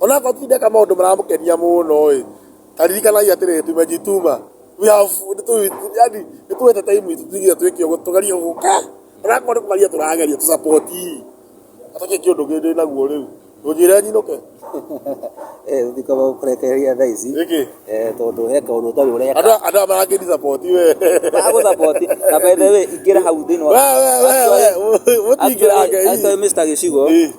Onakorwo ti ndeka maũndũ maramũkenia mũno ĩ, ta ririkanagia atĩrĩ, tumejituma, we have, yani nĩ twete time itũ tuge twĩke ũguo tũgerie gũka, onakorwo nĩ kũgeria tũrageria tũ support i, na tũtige kĩũndũ gĩkĩ ndĩ naguo rĩu, ũnjĩre nyinũke? Ndingĩhota gũkũrekereria thaa ici tondũ he kaũndũ ũtarĩ ũreka. Andũ aya marangĩ di support we. Magũ support na by the way ingĩra hau thĩinĩ wa. We we we we ũtingĩrange. Mr Gĩcigo.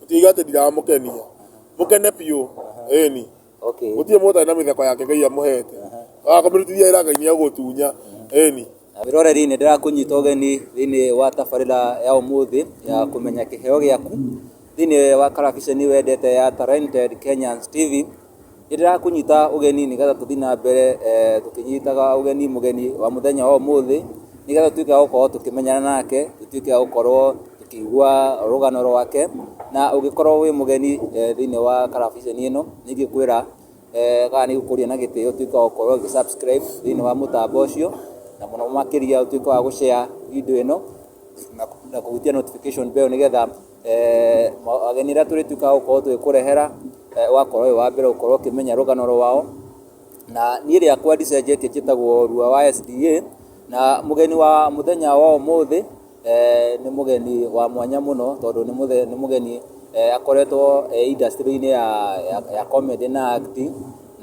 Gũtiga atĩ ndiramũkenia. Mũkene biũ. Ĩni. Okay. Gũtirĩ mũndũ ũtarĩ na mĩtheko yake Ngai amũhete. Waga kũmĩrutithia wĩra Ngai nĩegũgũtunya. Ĩni. Wĩroreri nĩ ndĩrakũnyita ũgeni thĩinĩ wa tabarĩra ya ũmũthĩ ya kũmenya kĩheo gĩaku thĩinĩ wa karabiceni wendete ya Talented Kenyans TV. Nĩndĩrakũnyita ũgeni nĩgetha tũthiĩ na mbere tũkĩnyitaga ũgeni mũgeni wa mũthenya wa ũmũthĩ, nĩgetha tũtuĩke a gũkorwo tũkĩmenyana nake, tũtuĩke a gũkorwo tũkĩigua rũgano rwake, na ũngĩkorwo wĩ mũgeni thĩiniĩ wa karabiceni ĩno, nĩ ingĩkwĩra kana nĩ ngũkũria na gĩtĩo ũtuĩke wa gũkorwo ũgĩ subscribe thĩiniĩ wa mũtambo ũcio, na mũno makĩria ũtuĩke wa gũ share video ĩno, na kũhutia notification bell nĩgetha... eh, ageni arĩa tũrĩtuĩkaga gũkorwo tũgĩkũrehera eh, ũgakorwo ũyũ wa mbere gũkorwo ũkĩmenya rũgano rwao na niĩ rĩakwa ndicenjetie njĩtagwo rua wa sda na mũgeni wa mũthenya wa ũmũthĩ eh, nĩ mũgeni wa mwanya mũno tondũ nĩ mũgeni eh, akoretwo eh, industry-inĩ ya, ya, ya comedy na acting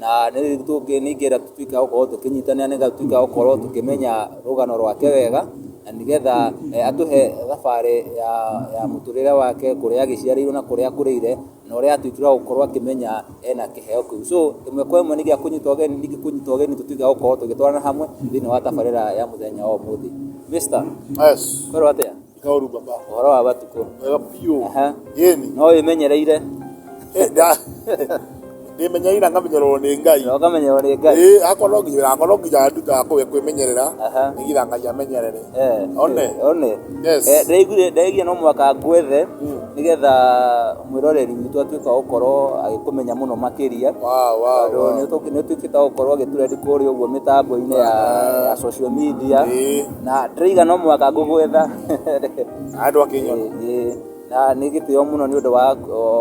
na nĩgetha tũtuĩke a gũkorwo tũkĩnyitanĩra nĩgetha tũtuĩke a gũkorwo tũkĩmenya rũgano rwake wega, na nĩgetha atũhe thabarĩ ya ya mũtũrĩre wake, kũrĩa agĩciarĩirwo na kũrĩa akũrĩire, na ũrĩa atuĩkire wa gũkorwo akĩmenya ena kĩheo kĩu. So ĩmwe kwa ĩmwe nĩ gĩa kũnyita ũgeni, ningĩ kũnyita ũgeni tũtuĩke a gũkorwo tũgĩtwarana hamwe thĩiniĩ wa tabarĩra ya mũthenya wa ũmũthĩ. Mister, kwĩrwo atĩa? Kaoru baba. ũhoro wa matukũ Wega biũ. Aha. Yeni. no wĩmenyereire Eh, nda- Ndĩmenyereire ngamenyererwo nĩ Ngai. na ũkamenyerwo nĩ ngai Ĩĩ, hakwa no nginya hakwa no nginya nduta kũwe kwĩmenyerera. Aha. Nĩgetha Ngai amenyerere. Eh, One. eh, one Yes. Eh, ndaiguire ndaiguire no mwaka ngwethe Mm. nĩgetha mwĩroreri witũ atuĩka wa gũkorwo agĩkũmenya mũno makĩria Wow, wow, tondũ wow. nĩ ũtũ- nĩ ũtuĩkĩte wa gũkorwo agĩturendi kũrĩa ũguo mĩtambo-inĩ ya ya social media Ĩĩ. na ndĩraiga no mũhaka ngũgwetha andũ akĩnyona na nĩ gĩtĩo mũno nĩ ũndũ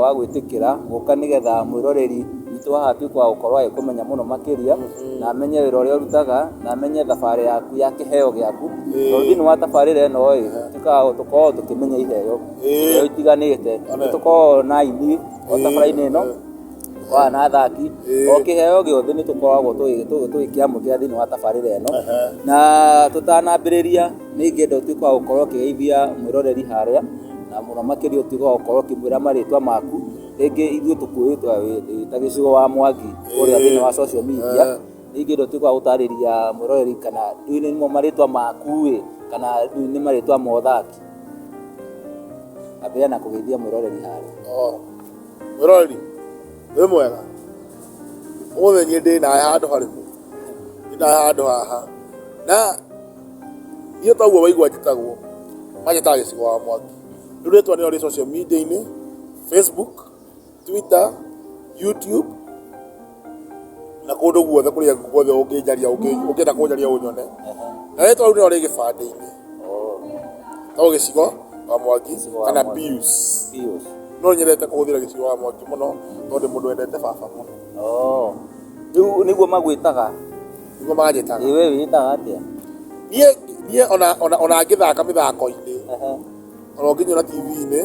wa gwĩtĩkĩra gũka nĩgetha mwĩroreri witũ haha atuĩke wa gũkorwo agĩkũmenya mũno makĩria na amenye wĩra ũrĩa ũrutaga na amenye thabarĩ yaku ya kĩheo gĩaku tondũ thĩinĩ wa tabarĩra ĩno ĩ tũkoragwo tũkoragwo tũkĩmenya iheo iheo itiganĩte nĩ tũkoragwo na aini o tabarĩra-inĩ ĩno. Aya na athaki o kĩheo gĩothe nĩ tũkoragwo tũgĩkĩamũkĩra thĩinĩ wa tabarĩra ĩno na tũtanambĩrĩria nĩ ingĩenda ũtuĩke wa gũkorwo ũkĩgeithia mwĩroreri harĩa na mũno makĩria ũtuĩke wa gũkorwo ũkĩmwĩra marĩtwa maku, rĩngĩ ithuĩ tũkũĩte wĩta gĩcigo wa Mwangi kũrĩa thĩinĩ wa social media, nĩ ingĩenda ũtuĩke wa gũtarĩria mwĩroreri kana ndiũĩ nĩmo marĩtwa maku ĩ kana rĩu nĩ marĩtwa ma ũthaki, ambĩrĩria na kũgeithia mwĩroreri harĩa. Wĩroreri, wĩ mwega? Ũmũthĩ niĩ ndĩ nawe handũ harĩkũ? Ndĩ nawe handũ haha. Na niĩ ta ũguo waigua njĩtagwo, manjĩtaga gĩcigo wa mwaki. Rĩu rĩtwa nĩrĩo rĩ social media-inĩ, Facebook, Twitter, YouTube. na kũndũ guothe kũrĩa guothe ũngĩnjaria ũngĩ- ũngĩenda kũnjaria ũnyone na rĩtwa rĩu nĩrĩo rĩ gĩbandĩ-inĩ to gĩcigo wa mwangi wa kana Mwangi. pius Pius. no nyendete kũhũthĩra gĩcigo wa mwangi mũno tondũ mũndũ wendete baba mũno Oh. Rĩu nĩguo magwĩtaga. nĩguo manjĩtaga Ĩ we wĩĩtaga atĩa? niĩ niĩ ona ona ona ngĩthaka mĩthako-inĩ Ehe. ona ũngĩnyona TV-inĩ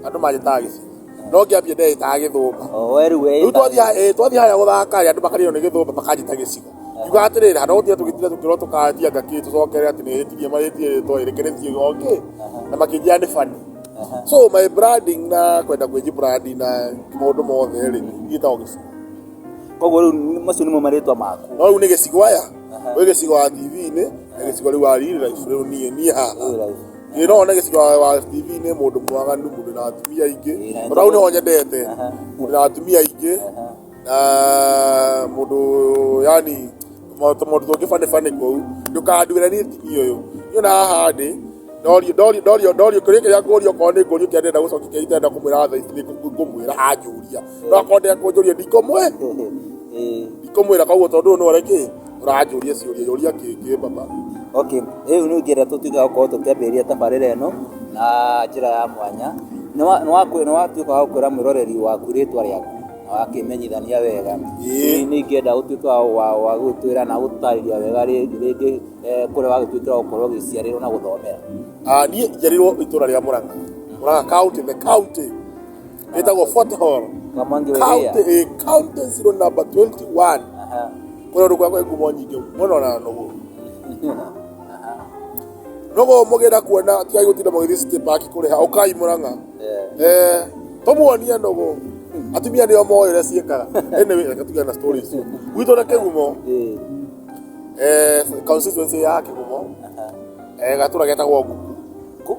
andũ manjĩtaga gĩcina no ngĩambia ndeyĩtaga gĩthũmba rĩu twathiĩ harĩa gũthaka rĩ andũ makarĩo nĩ gĩthũmba makanjĩta gĩcina ngiuga atĩrĩrĩ handũ gũtiga tũgĩtira tũkĩrwo tũkanjia ngakĩ tũcokere atĩ nĩ hĩtirie mahĩtia rĩtwa ĩrĩ kĩrĩtie gokĩ na makĩnjia nĩ bani so my branding na kwenda kwĩji brandi na maũndũ mothe rĩ gĩtagwo gĩcina koguo rĩu macio nĩmo marĩtwa maku no rĩu nĩ gĩcigo aya wĩ gĩcigo wa TV-inĩ na gĩcigo rĩu wa riri raibu rĩu niĩ niĩ haha Ĩĩ no wone gĩcigo wa TV nĩ mũndũ mwaganu, mũndũ wĩna atumia aingĩ, tondũ hau nĩho nyendete, mũndũ wĩna atumia aingĩ, na mũndũ yani maũndũ tũngĩ funny funny kũu, ndũkanduĩre niĩ TV ũyũ, niĩ ona haha ndĩ, ndorio ndorio ndorio ndorio kĩũria kĩrĩa ngũrio okorwo nĩ ngũrio kĩrĩa ndĩrenda gũcokia kĩrĩa itenda kũmwĩra thaa ici nĩ ngũmwĩra anjũria, no akorwo ndekũnjũria ndikũmwĩra, ndikũmwĩra koguo tondũ ũyũ nĩ ũrĩa kĩ? Ũranjũria ciũria yũria kĩngĩ baba. Okay, rĩu nĩ ingĩenda tũtuĩke gũkorwo tũkĩambĩrĩria tabarĩra ĩno na njĩra ya mwanya. Nĩ wa- nĩ waku- nĩ watuĩka wa gũkwĩra mwĩroreri waku rĩtwa rĩaku na wakĩmenyithania wega. Ĩĩ. Nĩ ingĩenda ũtuĩke wa- wa- wa gũgĩtwĩra na gũtũtarĩria wega rĩngĩ rĩngĩ eh, kũrĩa wagĩtuĩkire wa gũkorwo ũgĩciarĩrwo na gũthomera. Ah, niĩ njiarĩirwo itũra rĩa Mũrang'a. Mũrang'a county, the county. ĩtagwo Fort Hall Kamangi Weria. county ĩ county zero number 21 Aha. kũrĩa ũndũ kwakwa ngumo nyingĩ mũno na nũgũ nũgũ mũgĩra kuona tigai gũtinda mũgĩthiĩ city park kũrĩha ũkai mũrang'a Eh, Eh, tũmuonie nũgũ atumia nĩo moĩ ũrĩa ciĩkaga anyway reke tugĩa na story icio gwitũ na kĩgumo eh, eh, constituency ya kĩgumo aha. eh, gatũra getagwo nguku Ku-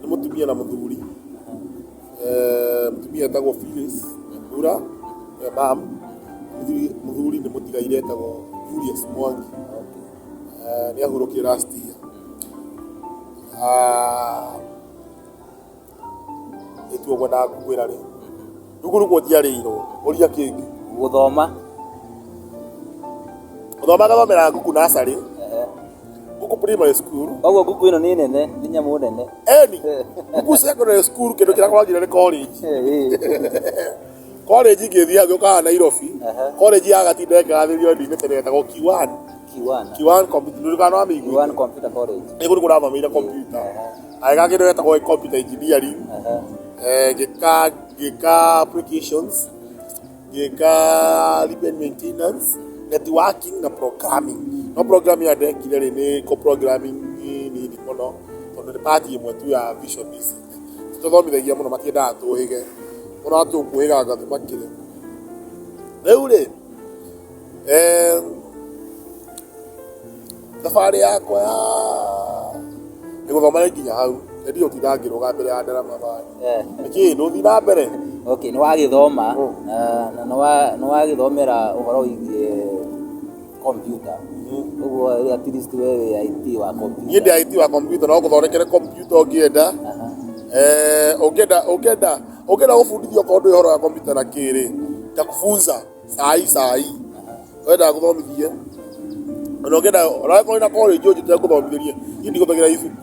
nĩ mũtumia na mũthuri Eh, mũtumia etagwo Phyllis Nyambura eh, mam Mũthuri- mũthuri nĩ mũtigaire etagwo Julius Mwangi Eh, nĩ ahurũkire last year Ah, ĩtuo ngwendaga gũkwĩra rĩ rũkũ rũkũ njiarĩirwo ũria kĩngĩ gũthoma gũthoma gathomera ngũkũ nacarĩ Kuku Primary School. Koguo kuku ĩno nĩ nene, nĩ nyamũ nene. Eni, Kuku Secondary School kĩndũ kĩrĩa kwagire nĩ college. College ingĩthiaga gĩũkaga Nairobi. College ya Gatinda ĩkĩgathĩrĩrio ndinĩ tene yetagwo Kiwan. Kiwan. Kiwan Computer. Ndũrĩkana wa mĩigua. Kiwan Computer College. Nĩ kũrĩ kũrathomeire computer. Agĩka kĩndũ yetagwo computer engineering. Ngĩka ngĩka applications. ngĩka repair maintenance networking na programming no programming ĩrĩa ndekire rĩ nĩ ko programming nini mũno tondũ nĩ part ĩmwe tu ya vision ici tũthomithagia mũno matiendaga tũhĩge mũno tũkũhĩga anga tũmakĩre rĩu rĩ Eh, thabarĩ yakwa ya nĩ gũthoma nĩ nginya hau nĩ ndio tinda ngĩrũga mbere ya ndarama bani Eh, nĩkĩ ndũthi na mbere okay nĩ wagĩthoma Mm. na na nĩ wa- nĩ wagĩthomera ũhoro wĩgiĩ kompiuta ũguo at least we wĩ IT wa niĩ kompiuta ndĩ aiti wa kompiuta no gũthondekere kompiuta ũngĩenda Aha. Eh, ũngĩenda ũngĩenda ũngĩenda gũbundithio okorwo ndũĩ ũhoro wa kompiuta na kĩrĩ ngakufunza sai sai wenda ngũthomithie ona ũngĩenda ona angĩkorwo wĩna college ũnjĩte ngũthomithĩrie niĩ ndigũthagĩra ibuku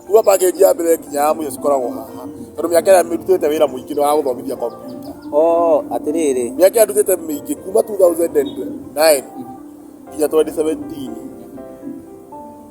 kuma package ya mbere nginya ya mũico cikoragwo haha tondũ mĩaka ĩrĩa ndutĩte wĩra mũingĩ nĩ wa gũthomithia kompiuta oo atĩrĩrĩ mĩaka ĩrĩa ndutĩte mĩingĩ kuma 2009 nginya 2017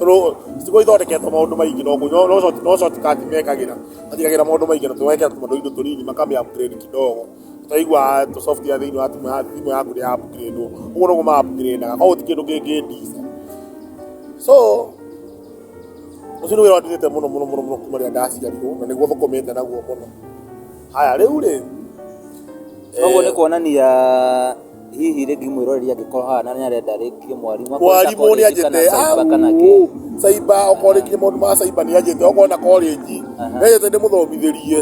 Rũ- Icigo ithondeketwo maũndũ maingĩ no kũ- no- no short- no shortcut mekagĩra. Matigagĩra maũndũ maingĩ na tũgekĩra tũmaũndũ indo tũnini makamĩ upgrade kidogo. Twaigua tũ software thĩinĩ wa thimũ ya- thimũ yaku nĩ ya upgrade wo. Ũguo noguo ma upgrade aga. Koguo ti kĩndũ kĩngĩ ndica. So, ũcio nĩ wĩra ũndĩrĩte mũno mũno mũno mũno kuma rĩrĩa ndaciarirwo na nĩguo thũkũmĩte naguo mũno. Haya rĩu rĩ, Koguo nĩ kuonania hihi rĩ ngĩmwĩroreria angĩkorwo haha na nĩ arenda rĩngĩ mwarimũ mwarimũ nĩ anjĩte kana kĩ caiba okorwo rĩngĩ maũndũ ma caiba nĩ anjĩte okorwo na college nĩ anjĩte ndĩmũthomithĩrie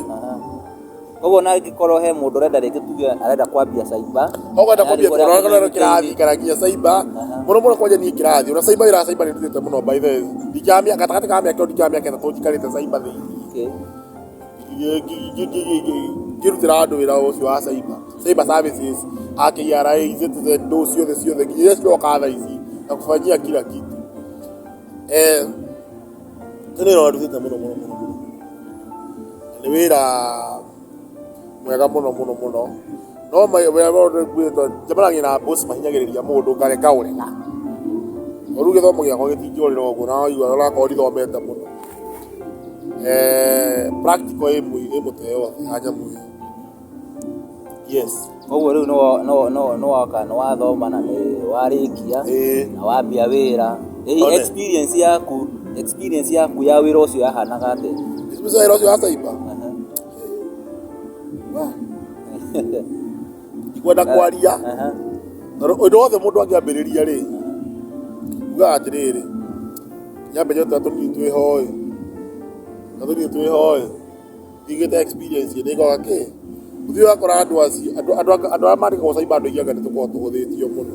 koguo na angĩkorwo he mũndũ ũrenda rĩngĩ tuge arenda kwambia caiba okwenda kwambia kũrora kĩrathi kana nginya caiba mũno mũno kwanja niĩ kĩrathi ona caiba wĩra wa caiba nĩ ndutĩte mũno by the way ndikĩra mĩaka gatagatĩ ka mĩaka ĩyo ndikĩra mĩaka ĩtatũ njikarĩte caiba thĩinĩ ngĩrutĩra andũ wĩra ũcio wa cyber cyber services a KRA, eCitizen ndũ ciothe ciothe nginya iria ciroka thaa ici na kũbanyia kila kitu eh nĩ wĩra ũrutĩte mũno mũno mũno mũno. nĩ wĩra mwega mũno mũno mũno. No wega ũrĩa nguuga nĩ njemanagia na boss mahinyagĩrĩria mũndũ ngarega ũrĩra. Na rĩu gĩthomo gĩakwa gĩtingĩũrĩra ũguo na waigua nĩ ũrakorwo ndithomete mũno. Practical ĩĩ mũtwe yothe ya nyamũ ĩyo. Yes. Kwoguo rĩu nĩ woka nĩ wathoma na nĩ warĩkia na wambia wĩra. Ĩ experience yaku experience yaku ya wĩra ũcio yahanaga atĩa? Experience ya wĩra ũcio wa cyber? ndikwenda kwaria tondũ ũndũ wothe mũndũ angĩambĩrĩria rĩ ugaga atĩrĩrĩ nyambe njota tũnini twĩ hoĩ na tũnini twĩ hoĩ ndigĩte experience nĩ ngoga kĩ ũthiĩ wakora andũ acio andũ andũ andũ arĩa mandĩkagwo cyber andũ aingĩ anga nĩ tũkoragwo tũhũthĩtio mũno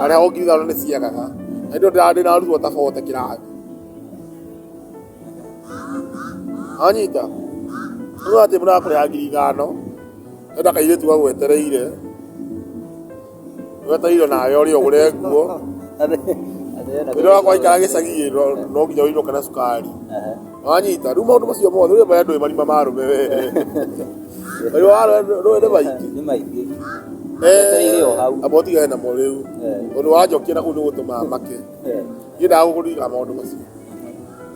harĩa ũngiuga nĩ ciagaga na ndio ndĩrarĩ ndĩraruo ta bote kĩrathi anyita rĩu atĩ mũrakũrĩha ngiri ithano enda kairĩtu gagwetereire wetereire nawe ũrĩ ũgũre nguo rĩrĩa waikara gĩcagi no nginya ũinũke na cukari Wanyita. Rĩu maũndũ macio mothe rĩu maya ndũĩ marima ma arũme we. Marima ma arũme ndũĩ nĩ maingĩ. nĩ maingĩ Etereire o hau. Amba ũtigane namo rĩu. Eh. Ũndũ wanjokia na kũu nĩ gũtũma make. Eh, Niĩ ndaga gũkũririkana maũndũ macio.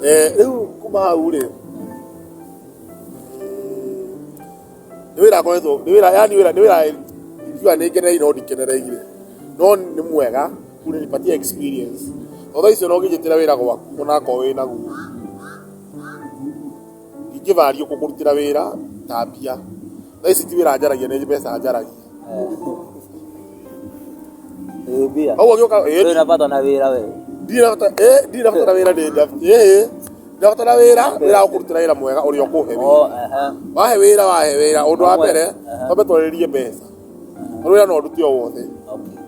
Eh, Rĩu kuma hau rĩ. Nĩ wĩra ngoretwo, nĩ wĩra yani wĩra nĩ wĩra ndikiuga nĩ ngenereire no ndikenereire. No nĩ mwega. Unanipatia experience. Although icio no nginyĩtĩra wĩra gwaku onakorwo wĩ naguo. Ingĩvaria kũkũrutĩra wĩra ta mbia. Thaa ici ti wĩra njaragia nĩ mbeca njaragia. Ĩĩ mbia. Koguo ngĩũka ĩĩ, Ndũrĩ na bata na wĩra we. ndirĩ na bata ĩĩ, ndirĩ na bata na wĩra ndĩ nda. Ĩĩ, ndĩ na bata na wĩra, wĩra wa kũrutĩra wĩra mwega ũrĩa ũkũhe wĩra. O, ehe. wahe wĩra wahe wĩra ũndũ wa mbere Aha. twambe twarĩrĩrie mbeca tondũ wĩra no ndute o wothe Okay.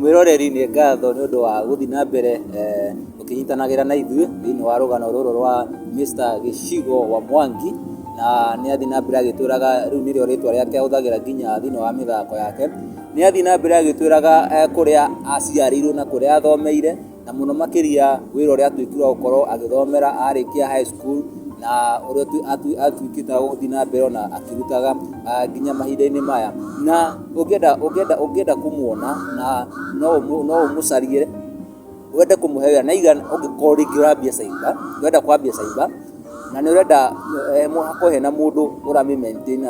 Mwĩroreri nĩ ngatho nĩ ũndũ wa gũthiĩ na mbere ũkĩnyitanagĩra na ithuĩ thĩinĩ wa rũgano rũrũ rwa Mister Gĩcigo wa Mwangi, na nĩ athiĩ na mbere agĩtwĩraga rĩu nĩrĩo rĩtwa rĩake ahũthagĩra nginya thĩinĩ wa mĩthako yake. Nĩ athiĩ na mbere agĩtwĩraga kũrĩa aciarĩirwo na kũrĩa athomeire. na mũno makĩria wĩra ũrĩa atuĩkire wa gũkorwo agĩthomera arĩkia high school na ũrĩa atuĩkĩte wa gũthiĩ na mbere ona akĩrutaga nginya mahinda-inĩ maya na ũngĩenda ũngĩenda ũngĩenda kũmuona na no no ũmũcarie wende kũmũhe wĩra na igana ũngĩkorwo rĩngĩ ũrambia cyber ũrenda kwambia cyber na nĩ ũrenda hakorwo hena mũndũ ũramĩ maintain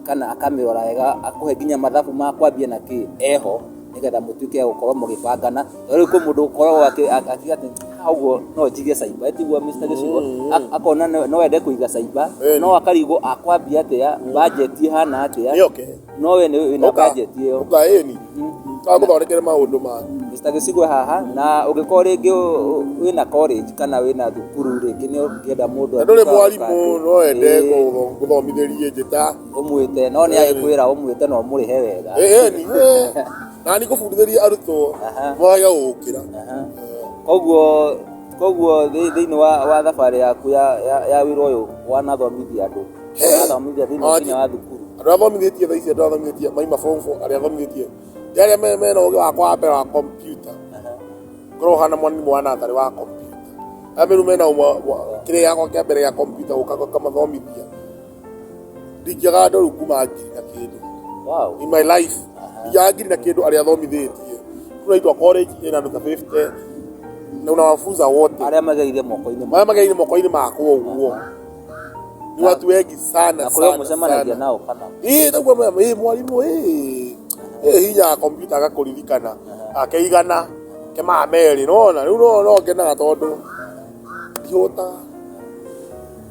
kana akamĩrora wega akũhe nginya mathabu ma kwambia na kĩĩ eho. nĩgetha mũtuĩke gũkorwo mũgĩbangana tondũ kwĩ mũndũ ũkoragwo akiuga atĩ "Ah, ũguo no njige caiba tiguo Mr. Gĩcigo Ak- akona no- no ende kũiga caiba Ĩni. no akarigwo akwambia atĩa bajeti ĩhana atĩa nĩ oke no we nĩ wĩna Ũka- bajeti ĩyo ũka ĩni kamũthondekere maũndũ ma Mr. Gĩcigo haha na ũngĩkorwo rĩngĩ ũ- ũ- wĩna college kana wĩna thukuru rĩngĩ nĩ ũngĩenda mũndũ na ndũrĩ atuĩke wa mwarimũ gũka- no ende Ĩĩ. gũthomithĩrie njĩta ũmwĩte no nĩ agĩkwĩra ũmwĩte na ũmũrĩhe wega Eni, na nĩ kũbundithĩria arutwo Aha. mwaga gũkĩra Aha. koguo koguo thĩ- thĩinĩ wa, wa thabarĩ yaku ya, ya, ya wĩra ũyũ wanathomithia andũ wanathomithia thĩinĩ Ati. thĩinĩ wa thukuru andå arä a thomithätie tha ici andå arä a thomithätie maima form four, arä a thomithätie nä arä a me- mena å gä wakwa wa mbere wa kompyuta korwo hana mwana nä mwana atarä wa kompyuta arä a mä rä u mena kä rä yakwa kä a mbere gä a kompyuta gå ka ngamathomithia ndingĩaga ndoru kuma ngiri na kĩndũ wow. in my life ndingĩaga ngiri na kĩndũ arĩa thomithĩtie tunaitwa college ĩna nduka 50 na unawafunza wote arĩa mageire moko-inĩ marĩa mageire moko-inĩ makwa ũguo ni watu wengi sana kũrĩa mũcemanagia nao kana ĩĩ naguo ĩĩ mwarimũ ĩĩ ĩĩ hinya kompyuta agakũririkana akeigana kemaa merĩ nona rĩu no ngenaga tondũ ndihũtaga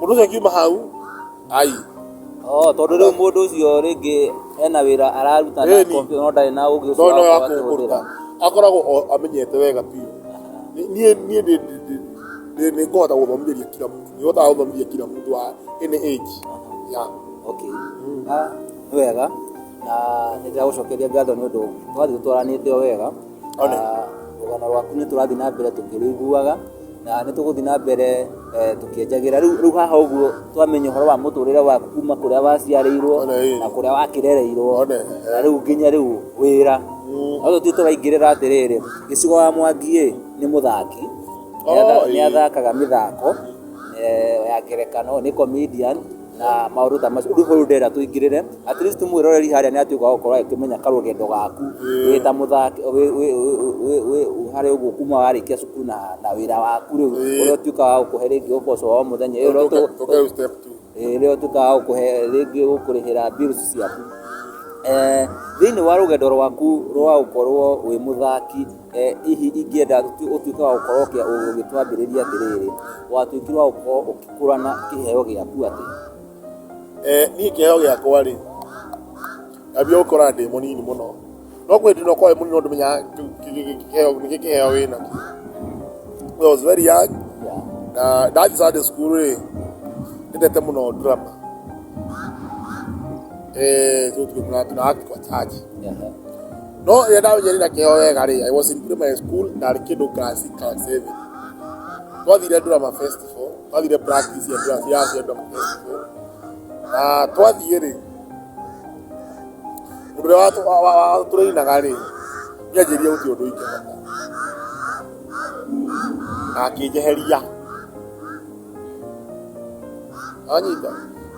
Mũndũ ũcio akiuma hau, ai. Oh, tondũ rĩu mũndũ ũcio rĩngĩ ena wĩra araruta na Ĩni. kompiuta no ndarĩ na ũgĩ ũcio Ndona wa wa kũhũthĩra. kũruta. Akoragwo o amenyete wega biũ. Ni- Niĩ niĩ ndĩ- ndĩ- ndĩ- ndĩ- nĩ ngũhota gũthomithĩria kila mũndũ. Nĩ hotaga gũthomithia kila mũndũ wa any age. Ya. Okay. Ah, nĩ wega na nĩ ndĩragũcokeria ngatho nĩ ũndũ twathiĩ tũtwaranĩte o wega Ona. Rũgano rwaku nĩ tũrathiĩ na mbere tũkĩrũiguaga na nĩ tũgũthiĩ na mbere tũkĩenjagĩra. Rĩu haha ũguo twamenya ũhoro wa mũtũrĩre waku kuma kũrĩa waciarĩirwo na kũrĩa wakĩrereirwo na rĩu nginya rĩu wĩra. No tũthiĩ tũraingĩrĩra atĩrĩrĩ, Gĩcigo wa Mwangi ĩ nĩ mũthaki, nĩ athakaga mĩthako ya ngerekano, nĩ comedian. na maundu ta macio ndu huru ndira tuingirire at least mwiroreri haria ni atuika wa gukorwo akimenya karugendo gaku wi ta muthaki wi hari uguo kuma warikia cukuru na na wira waku riu uria utuika wa gukuhe ringi uboco wa o muthenya uria utuika wa gukuhe ringi gukurihira bills ciaku thiini wa rugendo rwaku rwa gukorwo wi muthaki Hihi ingĩenda ũtuĩke wa gũkorwo ũgĩtwambĩrĩria atĩrĩrĩ, watuĩkire wa gũkorwo ũgĩkũrana kĩheo gĩaku atĩa? Niĩ kĩheo gĩakwa rĩ, ndambire gũkĩona ndĩ mũnini mũno, no kwendire ũkorwo wĩ mũnini no ndũmenyaga nĩkĩ kĩheo wĩnakĩo. I was very young na ndathiĩ Sunday school rĩ, nĩnyendete mũno drama, so tũgĩtũmagĩra tũraga twa church. no ĩrĩa ndamenyerera kĩo wega rĩ i was in primary school ndarĩ kĩndũ class class seven twathire ndurama festival twathire practice ya ndurama ya ya ndurama festival na twathiĩ rĩ mũndũ ũrĩa watu- wa- wa- wa- tũrĩinaga rĩ nĩanjĩria gũtirĩ ũndũ ingĩhota na akĩnjeheria Wanyita?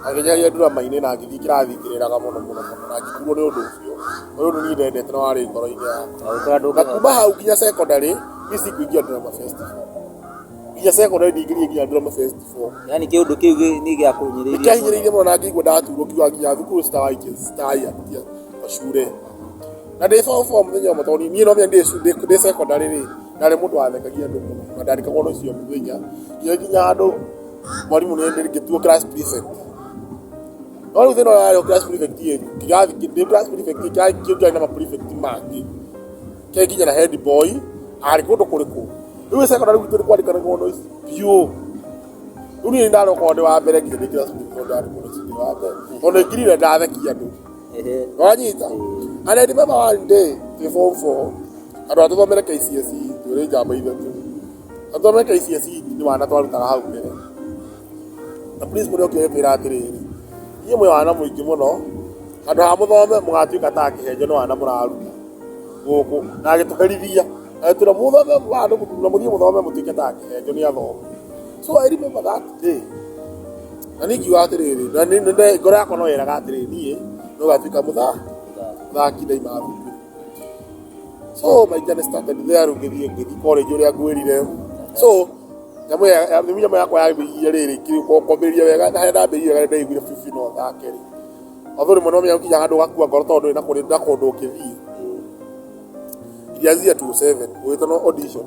Agĩnyaria ndurama-inĩ na ngĩthiĩ kĩrathi ngĩrĩraga mũno mũno mũno na ngĩturwo nĩ ũndũ ũcio. Ũndũ ũyũ nĩ niĩ ndendete na warĩ ngoro-inĩ yakwa. Na kuma hau nginya secondary, niĩ sikuingĩra drama festival. Nginya secondary ndingĩthiire nginya drama festival. Yaani kĩũndũ kĩu gĩ- nĩ gĩakũhinyĩrĩirie mũno. Nĩkĩahinyĩrĩirie mũno na ngĩigua ndaturwo ngiuga nginya thukuru citawai citawai anjia macure. Na ndĩ form four mũthenya ũmwe tondũ niĩ no nginya ndĩ cu- ndĩ ndĩ secondary rĩ, Ndarĩ mũndũ wathekagia andũ mũno na ndarĩkagwo nĩ ũcio mũthenya. Ngĩũĩ nginya handũ mwarimũ nĩ hĩndĩ ngĩtuo class prefect. No rĩu thĩna ũrĩa warĩ ho class prefect ĩĩ, kĩrathi ndĩ class prefect ĩĩ, kĩrathi kĩu kĩarĩ na ma prefect mangĩ. Kĩarĩ nginya na head boy, arĩ kũndũ kũrĩkũ. Rĩu gĩ secondary gwitũ nĩ kwandĩkanagwo notes biũ. Rĩu niĩ nĩ ndarokaga ndĩ wa mbere nginya ndĩ class prefect tondũ ndarĩ mũndũ ũcio ũngĩ wa mbere. Tondũ nĩ ngirire ndathekia andũ. wanyita and I remember one day twĩ form four andũ a tũthomere KCSE twĩrĩ njamba ithatũ na tũthomere KCSE nĩ wana twarutaga hau mbere na principal nĩ okire kwĩra atĩrĩrĩ inyuĩ mwĩ wana mũingĩ mũno handũ ha mũthome mũgatuĩka ta akĩhenjo nĩ wana mũraruta gũkũ na agĩtũherithia agĩtwĩra mũthome handũ mũtuna mũthiĩ mũthome mũtuĩke ta akĩhenjo nĩ athome so I remember that day Na nĩ ingiuga atĩrĩrĩ, na nĩ- nĩ- nĩ- ngoro yakwa no yeraga atĩrĩrĩ niĩ no gatuĩka mũtha- mũthaki ndaima thukuru so my journey started there rĩu ngĩthiĩ ngĩthiĩ college ũrĩa ngwĩrire so nyamũ ya- ya- nĩguo nyamũ yakwa yambĩrĩirie rĩrĩ kĩ- kwa- kwambĩrĩria wega na harĩa ndambĩrĩirie wega ndaiguire bibi no thake rĩ although rĩmwe no menya gũkinya handũ ũgakua ngoro tondũ ndũrĩ na kũrĩ na kũndũ ũngĩthiĩ iria zia 27 ũgĩtana audition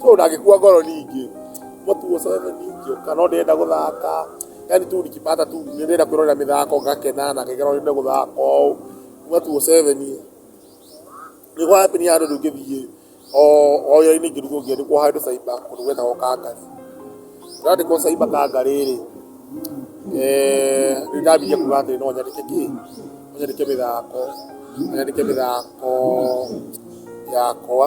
So ndagĩkua ngoro ningĩ. Mũtu ũcio ningĩ ũka no ndĩrenda gũthaka. Yaani tu nikipata tu nĩ ndĩrenda kwĩrorera mĩthako ngakena na ngĩkena ũrĩa megũthaka ũũ. Kuma tu o seven nĩ gwa happen handũ rĩu ngĩthiĩ o wĩra-inĩ ngĩrigwo ngĩandĩkwo handũ cyber kũndũ gwetagwo Kangarĩ. Ndandĩkwo cyber Kangarĩ rĩ, nĩ ndambirie kuga atĩrĩ no nyandĩke kĩ? No nyandĩke mĩthako, no nyandĩke mĩthako yakwa.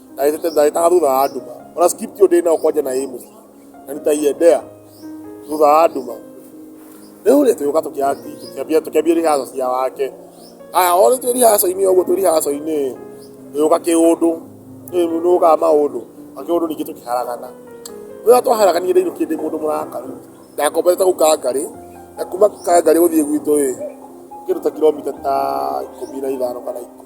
ndagĩtaga thutha wa nduma ona script ĩyo ndĩnayo kwanja na ĩ mũciĩ na nitaiendea thutha wa nduma rĩu rĩ tũgĩũka tũkĩambia rihaco cia wake aya o twĩ rihaco-inĩ ũguo twĩ rihaco-inĩ tũgĩũka kĩũndũ nĩũkaga maũndũ na kĩũndũ ningĩ tũkĩharagana rĩrĩa twaharaganire rĩu kĩndĩ mũndũ mũrakaru ndakombete kũu kangarĩ na kuma kangarĩ gũthiĩ gwitũ ĩ kĩndũ ta kiromita ta ikũmi na ithano kana ikũmi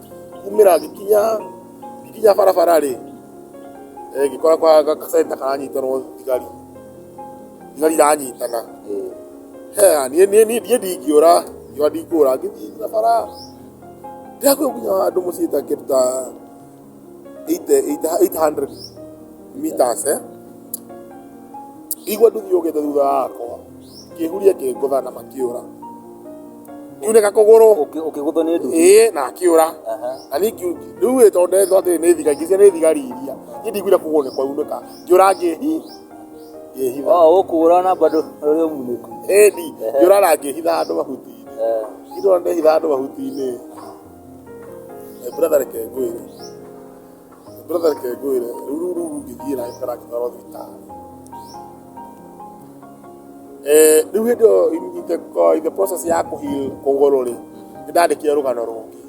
kumĩra ngĩkinya ngĩkinya barabara rĩ eh, ngĩkora kwa ga- gacenta karanyitĩrwo thigari thigari iranyitana He, niĩ niĩ- niĩ- niĩ ndingĩũra ngiwa ndingĩũra ngĩthiĩ na bara ndĩrakwĩ nginya handũ mũciĩ ta kĩndũ ta 80 800 meters eh? ndigua nduthi yũkĩte thutha wakwa ngĩhuria ngĩngũtha na makĩũra ngiunĩka kũgũrũ Ũkĩ- ũkĩgũthwo nĩ nduthi ĩĩ na akĩũra Aha. na niĩ ngiu- rĩu ĩ tondũ ndetwo atĩ nĩ thiga ngĩcia nĩ thigari iria niĩ ndiguire kũgũrũ nĩ kwaunĩka ngĩũra ngĩhi ngĩhitha o ũkũra na bado ũrĩ ũmunĩku ĩni ngĩũra na ngĩhitha andũ mahuti-inĩ Eh, indo ndehitha andũ mahuti-inĩ Eh, brother reke ngwĩre brother reke ngwĩre rĩu rĩu rĩu rũngĩthiĩ na gĩkara gĩtwarwo thibitarĩ Eh, rĩu hĩndĩ ĩyo in- in the, uh, in the process ya kũhil kũgũrũ rĩ nĩ ndandĩkire rũgano rũngĩ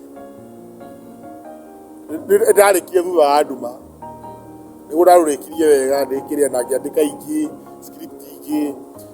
Nĩ- ndarĩkie thutha wa nduma nĩguo ndarũrĩkirie wega ndĩkĩrĩa na ngĩandĩka ingĩ script ingĩ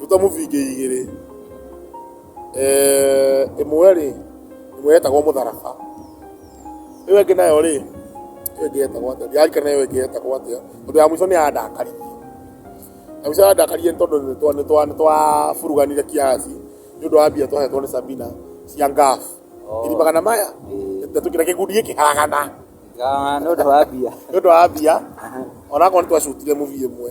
ruta mũbingĩ igĩrĩ Eh, ĩmwe rĩ ĩmwe yetagwo mũtharaba ĩyo ĩngĩ nayo rĩ ĩyo ĩngĩ yetagwo atĩa ndirarikana ĩyo ĩngĩ yetagwo atĩa tondũ ya mũico nĩ yandakaririe ya mũico yandakaririe nĩ tondũ nĩ twa- nĩ twa- nĩ twaburuganire kiasi nĩ ũndũ wa mbia twahetwo nĩ sabina cia ngaf iri magana maya tũkĩra kĩgundi gĩkĩharagana nĩ ũndũ wa mbia nĩ ũndũ wa mbia onakorwo nĩ twacutire mũbia ĩmwe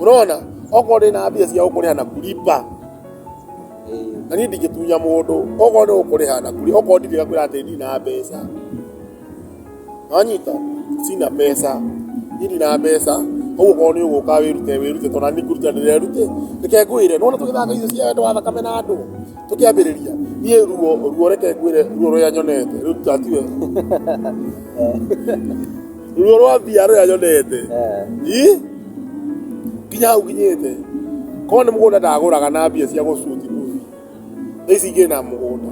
Ũrona, okorwo ndĩ na mbia cia gũkũrĩha na kulipa, na niĩ ndingĩtunya mũndũ, okorwo nĩ gũkũrĩha na kulipa, okorwo ndirĩ ngakwĩra atĩ ndirĩ na mbeca. Nĩwanyita? Sina pesa. Niĩ ndirĩ na mbeca, koguo okorwo nĩ ũgũka wĩrute wĩrute tondũ o na niĩ kũĩruta ndĩrerute. Reke ngwĩre, nĩwona tũgĩthaka icio cia wendo wa thakame na ndũũ, tũkĩambĩrĩria, niĩ ruo, ruo reke ngwĩre ruo rũrĩa nyonete, rũu ta tiwe. ruo rwa mbia rũrĩa nyonete Ĩ? nginya hau nginyĩte korwo nĩ mũgũnda ndagũraga na mbia cia gũcuti kũu thaa ici ingĩ na mũgũnda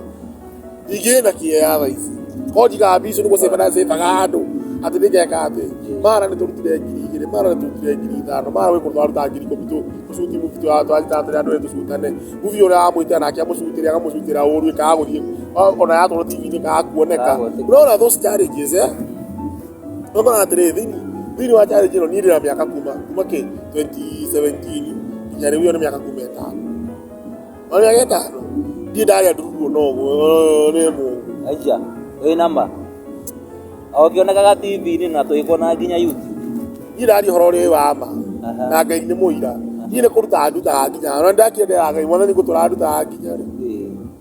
ingĩ na kĩea thaa ici korwo njigaga mbia icio nĩ gũcemba na cembaga andũ atĩ nĩngeka atĩ mara nĩ tũrutire ngiri igĩrĩ mara nĩ tũrutire ngiri ithano mara gwĩ kũndũ twaruta ngiri ikũmi tũ- tũcuti mubi twatwatĩra andũ erĩ tũcutane mubi ũrĩa wamwĩtĩra nake amũcutĩre akamũcutĩra ũru ĩkaga gũthiĩ ona yatwarwo tv-inĩ ĩkaga kuoneka Ĩkaga gũthiĩ. ũrona those challenges eh? ũkoraga atĩrĩ thĩinĩ wa challenge ĩno niĩ ndĩna mĩaka kuma kuma kĩ 2017 nginya rĩu ĩyo nĩ mĩaka kuma ĩtano ona mĩaka ĩtano ndirĩ ndarĩa nduruguo na ũguo nĩ mũndũ aija wĩ nama okĩonekaga tv-inĩ na tũgĩkuona nginya youtube niĩ ndaria ũhoro ũrĩ wa ma Aha. na ngai nĩ mũira niĩ nĩ kũrutaga ndutaga nginya ona ndakĩendera ngai mwathani gũtũra ndutaga nginya rĩ Ĩĩ.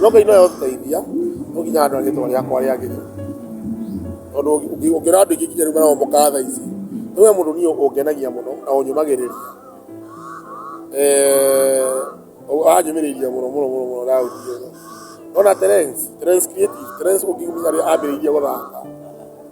Nyoka ino yo teithia no nginya andũ rĩtwa rĩakwa rĩagĩrĩre tondũ ũngĩrora andũ aingĩ nginya rĩu marohomoka thaa ici no we mũndũ niĩ ũngenagia mũno na ũnyũmagĩrĩria wanyũmĩrĩirie mũno mũno mũno Daudi ũyũ. Nĩ wona Terence? Terence Creative, Terence ũngĩmenya ũrĩa ambĩrĩirie gũthaka.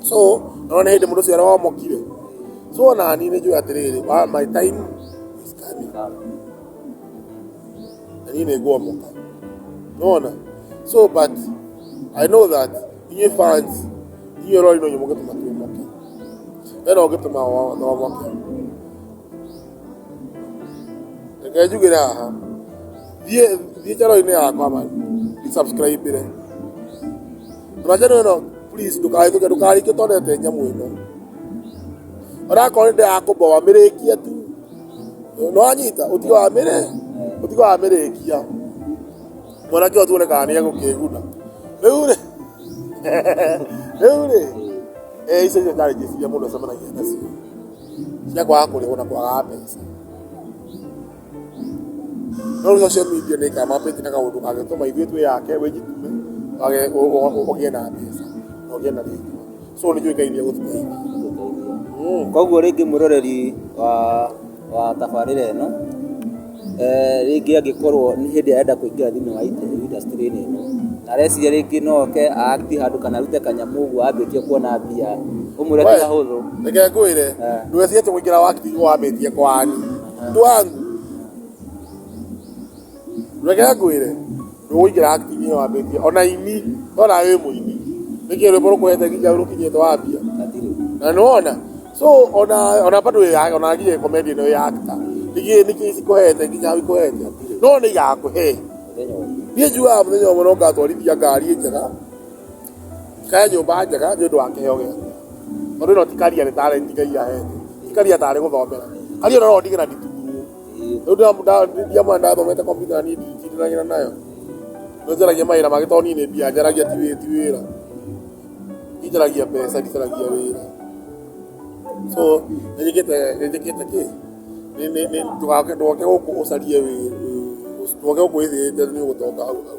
So, nĩwona nĩ hĩndĩ mũndũ ũcio aromokire. So onani nĩ njũĩ atĩrĩrĩ, wa- my time is coming. Na niĩ nĩ ngwomoka. Nĩwona? So but I know that inyuĩ fans, inyuĩ rori no inyuĩ mũngĩtũma tuomoke. We no ũngĩtũma o- tuomoke. Reke njugĩre haha. Thiĩ thiĩ channel-inĩ yakwa man. Subscribe-ĩre. Tũracani ĩno please ndũkarĩtũke ndũkarĩtũke tondete nyamũ ĩno onakorwo nĩ ndĩrakũmboa mĩrĩkia tu no anyita ũtige wa mĩrĩ ũtige wa mĩrĩkia mwanake ũyũ tuone kana nĩ egũkĩguna rĩu rĩ rĩu rĩ eh, icio icio ndarĩ njĩciria mũndũ acemanagia nacio cia kwaga kũrĩhwo na kwaga mbeca no rä social media nä kama pä tä kaå ndå kangä tå ma ithuä twä yake wä njitume å gä na mbeca na å gä na rä so nä njå ä kaithia gå tuteithia koguo rĩngĩ mwĩroreri wa wa tabarĩra ĩno eh, rĩngĩ angĩkorwo nĩ hĩndĩ ĩrĩa arenda kũingĩra thĩinĩ wa ite- industry-inĩ ĩno na areciria rĩngĩ no oke aakti handũ kana arute kanyamũ ũguo ambĩtie kuona mbia ũmwĩre ti hahũthũ reke ngwä re Eh. ndwä atä gå ingä ra wakti wambä tie kwani Andũ anyu reke ngwĩre ndũgũikĩra acting ĩyo wambĩtie ona aini no nawe wĩ mũini nĩkĩ rwĩmbo rũkũhete nginya rũkinyĩte wambia na nĩwona so ona ona bado wĩ ya- ona nginya comedy ĩno ya actor nĩkĩ nĩkĩ ikũhete nginya ikũhete no nĩ igakũhe niĩ njugaga mũthenya ũmwe no ngatwarithia ngari njega He nyũmba njega nĩ ũndũ wa kĩheo gĩake, tondũ ĩno ti career nĩ talent Ngai aheete, ti career tarĩ gũthomera, career ĩno no ndigĩra nditumumu, rĩu ndiamwona ndathomete computer na niĩ ndicindanagira nayo, nĩ njaragia mawĩra mangĩ tondũ niĩ nĩ mbia njaragia ti wĩra, niĩ njaragia mbeca ndicaragia wĩra, so nĩ njĩkĩte, nĩ njĩkĩte kĩ? Nĩ, nĩ, nĩ, ndũgoke gũkũ ũcarie wĩra, ndũgoke gũkũ wĩthĩĩte nĩ ũgũtonga hau hau.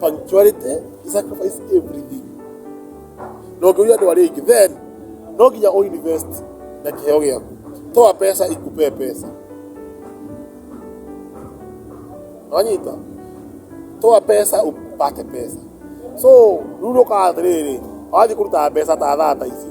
punctuality is sacrifice everything na ũngĩũria andũ arĩa aingĩ then no nginya ũ invest na kĩheo gĩaku toa pesa ikupee pesa wanyita toa pesa upate pesa so ruru ũkaga atĩrĩrĩ wathiĩ kũruta mbeca ta thaa ta ici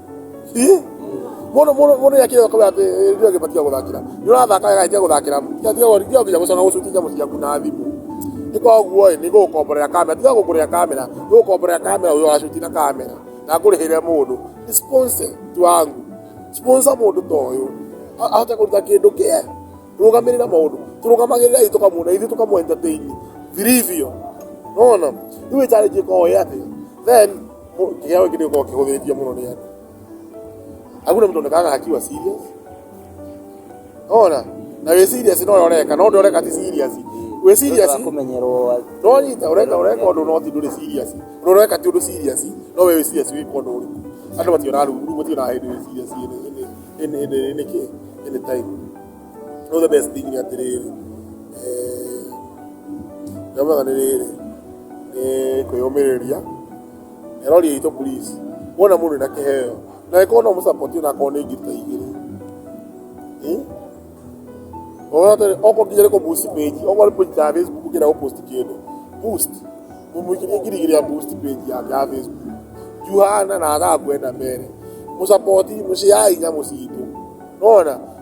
Ih, mũndũ mũndũ mũndũ ya kĩyo kwa atĩ ndio ngĩbatia gũthakira nĩ ũrathaka wega ĩtia gũthakira tiga tiga gũthiĩ tiga nginya gũcoka gũcuti nyamũ ciaku na thimũ nĩ kwa ũguo ĩ nĩ gũgũkomborera kamera tiga gũkũrĩa kamera nĩ gũgũkomborera kamera ũyũ wacuti na kamera na ngũrĩhĩre mũndũ Ni sponsor tu wangu sponsor mũndũ ta ũyũ A- ahote kũruta kĩndũ kĩe rũgamĩrĩra maũndũ tũrũgamagĩrĩrei tũkamuona ithuĩ tũkamu entertain vilivyo nona rĩu ĩtarĩnjĩka oĩ atĩ then Kĩheo gĩkĩ nĩ gĩkoragwo kĩhũthĩtie mũno nĩ andũ. Hakuna mtu onekana akiwa serious. Ona, na wĩ serious no ũreka, no ndũreka ti serious. Wĩ serious. Kũmenyerwo No nyita ũreka ũreka ũndũ no ti ndũrĩ serious. Ũndũ ũreka ti ũndũ serious, no wĩ serious wĩ ũndũ ũrĩkũ. Andũ mationaga ruru, mationaga hĩndĩ wĩ serious ĩnĩ ĩnĩ ĩnĩ ĩnĩ kĩ? Ĩnĩ time. No the best thing nĩ atĩrĩrĩ, eh, ndĩramwetha nĩ rĩrĩ, nĩ kwĩyũmĩrĩria. Na rori itũ please, wona mũndũ ena kĩheo, na angĩkorwo no mũsupport ona akorwo nĩ ngiri ta igĩrĩ. Ĩ? Ona atĩrĩ, okorwo nginya nĩ kũ boost page, okorwo nĩ page ya Facebook ũngĩenda gũ post kĩndũ, boost. Mũmwĩkĩrie ngiri igĩrĩ ya boost page yake ya Facebook. Juu hana na athangũ ena mbere. Mũsupport, mũciai nyamũ citũ. Nĩwona?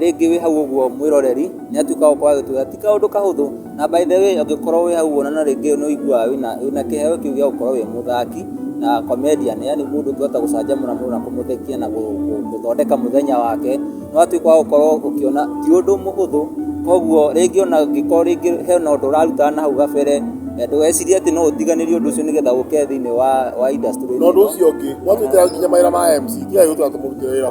rĩngĩ wĩ hau ũguo mwĩroreri nĩ atuĩkaga gũkorwo agĩtwĩra ti kaũndũ kahũthũ na by the way ũngĩkorwo wĩ hau ũguo na rĩngĩ nĩ ũiguaga wĩna kĩheo kĩu gĩa gũkorwo wĩ mũthaki na comedian yaani mũndũ ũngĩhota gũcanjamũra mũndũ na kũmũthekia na gũthondeka mũthenya wake nĩ watuĩka wa gũkorwo ũkĩona ti ũndũ mũhũthũ koguo rĩngĩ ona ũngĩkorwo rĩngĩ hena ũndũ ũrarutaga nahau gabere ndũgecirie atĩ no ũtiganĩrie ũndũ ũcio nĩgetha ũke thĩinĩ wa industry ĩno. Na ũndũ ũcio ũngĩ, gwatuĩka nginya mawĩra ma MC ti wega gũtũra tũmũrutĩre wĩra.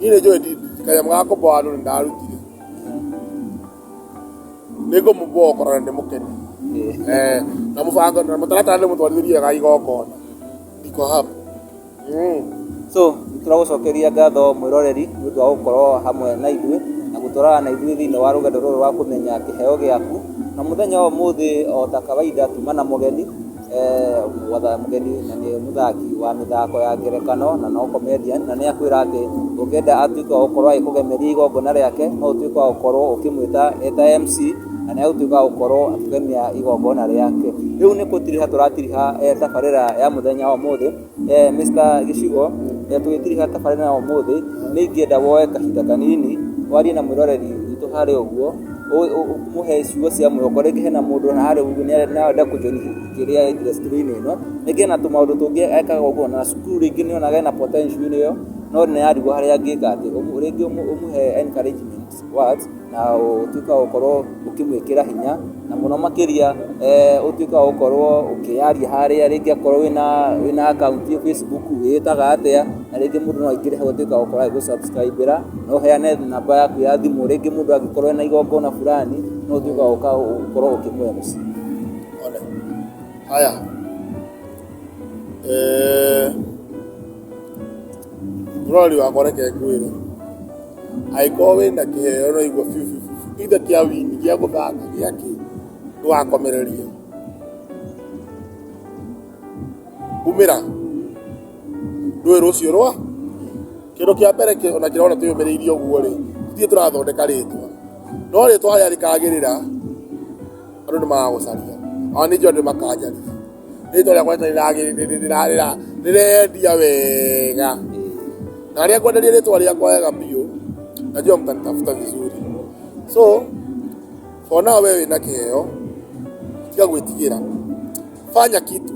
nyine cyo ndi kaya mwako bwalo ndalutire niko muboko na ndi mukeni eh na mufanga na mutalata ndi mutwalirie ga igoko ndiko hapa mm so tũragũcokeria ngatho mwĩroreri nĩ ũndũ wa gũkorwo hamwe na ithuĩ na gũtwarana na ithuĩ thĩinĩ wa rũgendo rũrũ rwa kũmenya kĩheo gĩaku na mũthenya wa ũmũthĩ o ta kawaida tuma na mũgeni Gwatha mũgeni na nĩ mũthaki wa mĩthako ya ngerekano na no comedian na nĩ akwĩra atĩ ũngĩenda atuĩke wa gũkorwo agĩkũgemeria igongona rĩake no ũtuĩke wa gũkorwo ũkĩmwĩta e ta MC na nĩ agũtuĩka wa gũkorwo akĩgemia igongona rĩake. Rĩu nĩ gũtiriha tũratiriha tabarĩra ya mũthenya wa ũmũthĩ. Eh, Mr. Gĩcigo, eh, tũgĩtiriha tabarĩra ya ũmũthĩ, nĩ ingĩenda woe kahinda kanini, warie na mwĩroreri witũ harĩa ũguo, ũ- ũ- ũmũhe ciugo cia mwĩhoko, rĩngĩ hena mũndũ ona harĩa ũguo nĩ arenda- no arenda kũjoini kĩrĩa industry-inĩ ĩno, rĩngĩ ena tũmaũndũ tũngĩ ekaga ũguo, na cukuru rĩngĩ nĩ onaga ena potential -inĩ ĩyo, no nĩ arigwo harĩa angĩka atĩ, ũguo rĩngĩ ũmũ- ũmũhe encouragement. words na ũtuĩke wa gũkorwo ũkĩmwĩkĩra hinya na mũno makĩria eh, ũtuĩke wa gũkorwo ũkĩyaria harĩa rĩngĩ akorwo wĩna wĩna akaunti ya Facebook wĩtaga atĩa na rĩngĩ mũndũ no aingĩre hau atuĩke wa gũkorwo agĩgũsubscribĩra no ũheane namba yaku ya thimũ rĩngĩ mũndũ angĩkorwo ena igongona fulani no ũtuĩke wa gũka- gũkorwo ũkĩmũhe mũciĩ Ole. Haya. Eh, Mũrori wakwa reke ngwĩre. Angĩkorwo wĩna kĩheo ũraigua biũ biũ biũ, either kĩa wini, gĩa gũthaka, gĩa kĩ, ndũgakomererie. Umĩra, ndũĩ rũciũ rwa, kĩndũ kĩa mbere kĩ ona kĩrona twĩyũmĩrĩirie ũguo rĩ, ithuĩ tũrathondeka rĩtwa. No rĩtwa harĩa rĩkagĩrĩra, andũ nĩ magagũcaria. Ona niĩ njũĩ andũ nĩ makanjariria. rĩtwa rĩakwa rĩtarĩ rĩrarĩra rĩrendia wega na arĩa ngwenderia rĩtwa rĩakwa wega biũ najua mtanitafuta vizuri so ona we wĩna kĩheo tiga gwĩtigĩra fanya kitu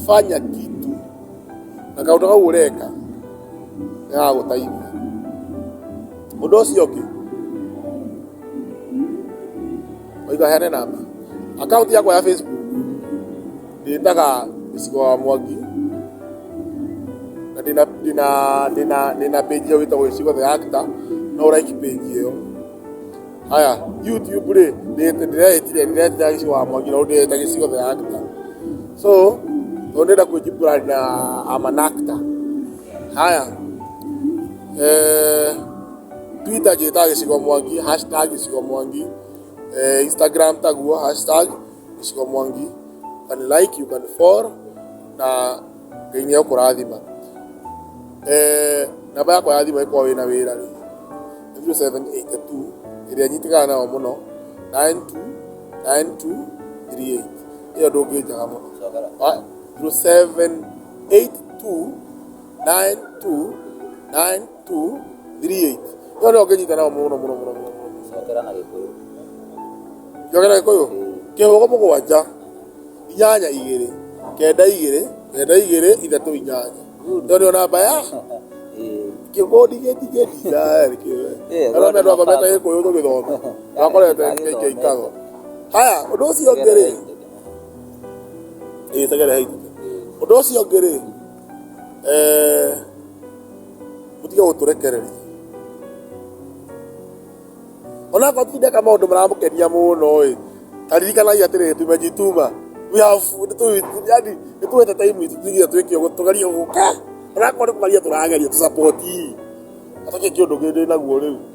fanya kitu na kaũndũ kau ũreka gagagũteithia ũndũ ũcio ũngĩ Oiga heane namba. Akaunti yakwa ya Facebook ndĩtaga gĩcigo wa mwangi na ndĩna ndĩna ndĩna ndĩna page ĩyo wĩtagwo gĩcigo the actor no like page ĩyo haya youtube rĩ ndĩreta- ndĩretire ndĩretira gĩcigo wa mwangi no ndĩreta gĩcigo the actor so no ndĩrenda kwĩnjibura na amanactor haya eh Twitter njĩtaga gĩcigo mwangi hashtag gĩcigo mwangi eh, Instagram taguo hashtag gĩcigo mwangi you can like you can follow na ngai nĩ ekũrathima eh, namba yakwa ya thimũ ĩkorwo wĩna wĩra rĩ 0782 ĩrĩa nyitĩkaga nayo mũno 929238 ĩyo ndũngĩnjaga mũno Ah, 0782 9292 238 no no nginyita nao muno muno muno muno cokera na gikuyu njokera gikuyu kihugo mugwanja inyanya igiri kenda igiri kenda igiri ithatu inyanya no ndio namba ya kibodi geti geti dari kiwe Eh, ara me ndo bwana, kometa gikuyu tu githoma akorete Agithomete. kikago haya undu ucio ngiri ithagere haithu undu ucio ngiri Eh, mũtige gũtũrekereria onakorwo tindeka maũndũ maramũkenia mũno ĩ taririkanagia atĩrĩrĩ tumejituma we have nĩtũ- yani nĩtũwete time itũ tuge twĩke ũguo tũgerie gũka onakorwo nĩ kũgeria tũrageria tũsapoti atũkĩ kĩũndũ gĩndĩ naguo rĩu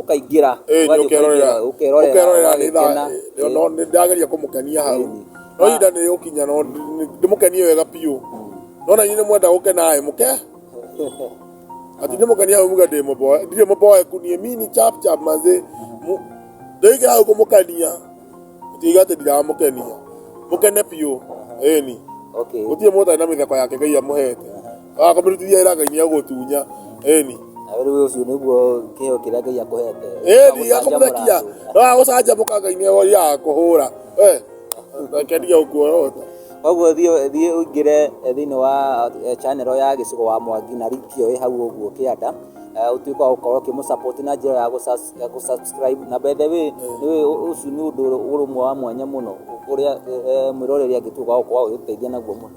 ũkaingĩra ũkerorera nĩndageria kũmũkenia hau no ihinda nĩ ũkinya no ndĩmũkenie wega biũ nona inĩ mwenda gũkenaĩ mũke ati ndĩmũkenia hau muge ndĩmũboe ndirĩ mũboeku niĩ mini chap chap mazĩ ndĩikĩra hau kũmũkenia tiga atĩ ndiramũkenia mũkene biũ ĩni gũtirĩ mũndũ ũtarĩ na mĩtheko yake Ngai amũhete wakamĩrutithia ĩra ngai nĩagũtunya ĩni agĩrĩrwo ũcio nĩguo kĩheo kĩrĩa ngai akũhete ĩni akamũrekia no agũcanjamũka ngai nĩworia akũhũra kendia ũkuorota koguo thiĩ thiĩ ũingĩre eh, thĩinĩ wa eh, channel ya gĩcigo wa mwangi na link ĩyo ĩ hau ũguo kĩanda eh, ũtuĩke wa gũkorwo ũkĩmũsupport na njĩra ya gũsus- ya gũsubscribe na by the way nĩ- ũ- ũcio nĩ ũndũ ũrũmwe wa mwanya mũno ũrĩa eh, mwĩroreri angĩtuĩka wa gũkorwo agĩgũteithia naguo mũno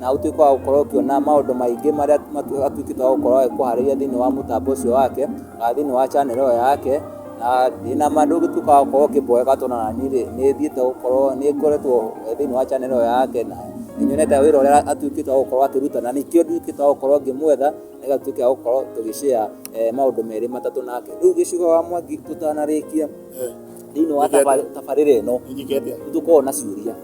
na ũtuĩke wa gũkorwo ũkĩona maũndũ maingĩ marĩa atuĩkĩte wa gũkorwo akĩharĩria thĩinĩ wa mũtambo ũcio wake na thĩinĩ wa channel ĩyo yake na ndĩna ma ndũngĩtuĩka wa gũkorwo ũkĩmboeka tondũ ona niĩ rĩ nĩ thiĩte gũkorwo nĩ ngoretwo thĩinĩ wa channel ĩyo yake na nĩ nyonete wĩra ũrĩa atuĩkĩte wa gũkorwo akĩruta na nĩkĩo nduĩkĩte wa gũkorwo ngĩmwetha nĩgetha tuĩke a gũkorwo tũgĩ share maũndũ merĩ matatũ nake rĩu gĩcigo wa mwangi tũtanarĩkia thĩinĩ wa tabarĩra ĩno nĩ tũkoragwo na ciũria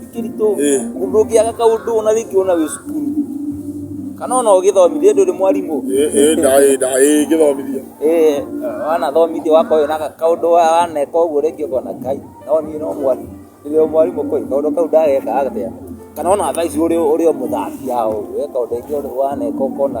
ti kĩritũ Eh. ũndũ ũngĩaga kaũndũ ona rĩngĩ ona wĩ cukuru kana ona ũgĩthomithia ndũrĩ mwarimũ ndagĩthomithia Eh, wanathomithia wakoyo na kaũndũ wa- waneka ũguo rĩngĩ ũkona kai no niĩ no mwarimũ rĩrĩa mwarimũ koi kaũndũ kau ndageka atĩa kana ona thaa ici ũrĩ ũrĩ o mũthambia ũguo eh, kaũndũ ingĩ ũrĩ- waneka ũkona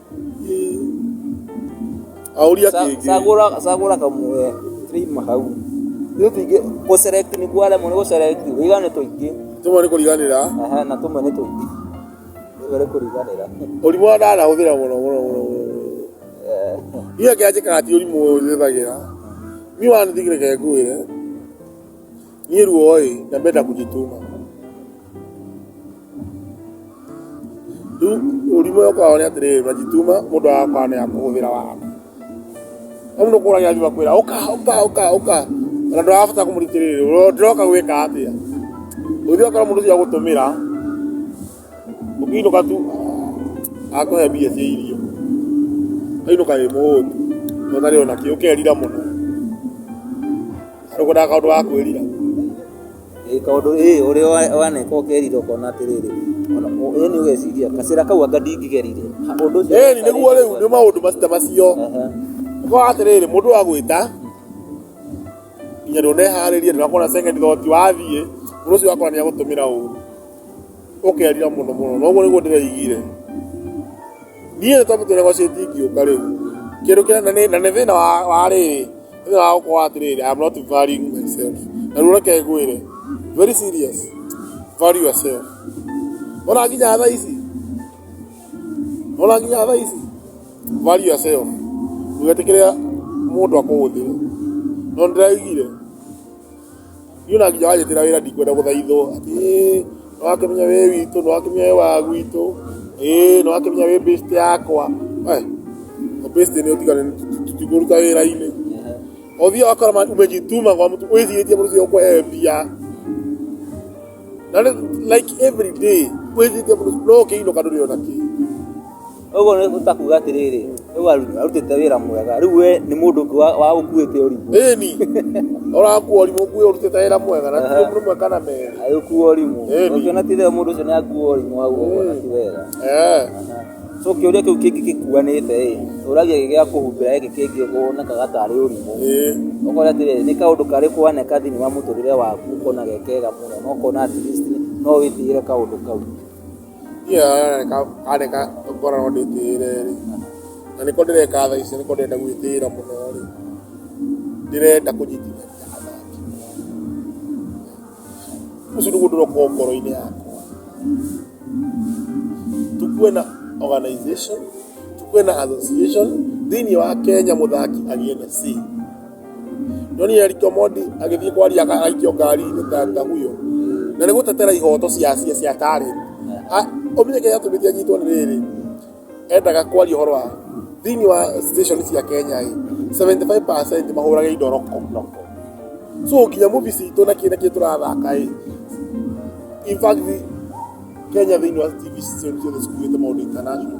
Auria kĩngĩ. Cagũra cagũra kamwe tũima hau. Ithuĩ tũingĩ gũ select nĩ kwaremwo nĩ gũ select kũiga nĩ tũingĩ. Tũmwe nĩ kũriganĩra. Aha na tũmwe nĩ tũingĩ. Tũmwe nĩ kũriganĩra. Ũrimũ wa ndawa ndahũthĩra mũno mũno mũno mũno. Niĩ kĩrĩa njĩkaga ti ũrimũ ũyũ njũthagĩra. Niĩ one thing reke ngwĩre. Niĩ ruo-ĩ, ndambenda kũnjitũma. Rĩu ũrimũ ũrĩa ũkoragwo nĩ atĩrĩrĩ, ũngĩjitũma mũndũ agakorwo nĩ akũhũthĩra wara. Rĩu mũndũ ũkũraga agathiĩ agakwĩra ũka ũka ũka ũka, ona ndũrabatara kũmũria atĩrĩrĩ ndĩroka gwĩka atĩa. Ũngĩthiĩ ũgakora mũndũ ũcio agũtũmĩra. ũkĩinũka tu akũhe mbia cia irio ũkainũka wĩ mũhũtu na ũtarĩ ona kĩ ũkerira mũno arĩ kũndaga kaũndũ ga kwĩrira Ĩĩ, kaũndũ ĩĩ ũrĩa wa- waneka ũkerira ũkona atĩrĩrĩ ona ũ- ĩĩ nĩ ũgeciria gacĩra kau anga ndingĩgerire Ha, ũndũ ũcio ĩni nĩguo rĩu nĩ maũndũ macio macio Aha. ũkorwo atĩrĩrĩ mũndũ agwĩta nginya ndũneharĩria ndũrakona second thought wathiĩ mũndũ ũcio wakora nĩ agũtũmĩra ũru ũkerira mũno mũno na ũguo nĩguo ndĩraigire niĩ nĩ tondũ tũrĩa gwacio ndingĩũka rĩu kĩndũ kĩa na nĩ- na nĩ thĩna wa wa rĩrĩ nĩ thĩna wa gũkorwo atĩrĩrĩ I'm not valuing myself na rĩu reke ngwĩre very serious value yourself ona nginya thaa ici ona nginya thaa ici value yourself ndũgetĩkĩre mũndũ akũhũthĩre no nĩ ndĩraigire Niĩ ona nginya wanjĩtĩra wĩra ndikwenda gũthaithwo atĩ ĩĩ nĩ wakĩmenya wĩ witũ, nĩ wakĩmenya wĩ wa gwitũ, ĩĩ nĩ wakĩmenya wĩ best yakwa. We, ũ best nĩ ũtigane tũtikũruta wĩra-inĩ. Ũthiaga ũgakora ma- umejituma kwa mtu wĩcirĩtie mũndũ ũcio ũkũhe mbia. Na rĩu like every day wĩcirĩtie mũndũ ũcio no ũkĩinũka ndũrĩ ona kĩ. Ũguo nĩ ta kuga atĩrĩrĩ, rĩu aru- arutĩte wĩra mwega, rĩu we nĩ mũndũ ũngĩ wa- wa ũkuĩte ũrimũ, Ĩni. Ũrakuo ũrimũ kuo ũrutĩte wĩra mwega na ti ũmwe mweka na merĩ. agĩkuo ũrimũ. Ĩni. Ũngĩona ti wega mũndũ ũcio nĩ akuo ũrimũ hau ũguo na ti wega. Eh. So kĩũria kĩu kĩngĩ gĩkuanĩte ĩ, ũragia gĩ gĩa kũhumbĩra gĩkĩ kĩngĩ wonekaga tarĩ ũrimũ. Eh. Ũkona atĩrĩrĩ, nĩ kaũndũ karĩ kuoneka thĩinĩ wa mũtũrĩre waku ũkona gekega mũno, na ũkona at least no wĩtigĩre kaũndũ kau. niĩ areka areka ngora no ndĩtĩĩre rĩ, na nĩko ndĩreka thaa ici nĩko ndĩrenda gwĩtĩĩra mũno rĩ, ndĩrenda kũnyitithania athaki. Ũcio nĩguo ũndũ ũroka ngoro-inĩ yakwa. Tũkuwe na organization, tũkuwe na association, thĩiniĩ wa Kenya mũthaki agĩe na say. Daniel Kĩomondi agĩthiĩ kwaria agaikio ngari gũtanga huyo na nĩ gũtetera ihoto cia cia cia tarĩ ũmenye kĩrĩa gĩatũmĩte anyitwo nĩ rĩrĩ endaga kwaria ũhoro wa thĩinĩ wa station cia Kenya ĩ 75% mahũrage indo roko so nginya movie citũ na kĩrĩa kĩrĩa tũrathaka ĩ in fact Kenya thĩinĩ wa TV station ciothe cikuĩte maũndũ international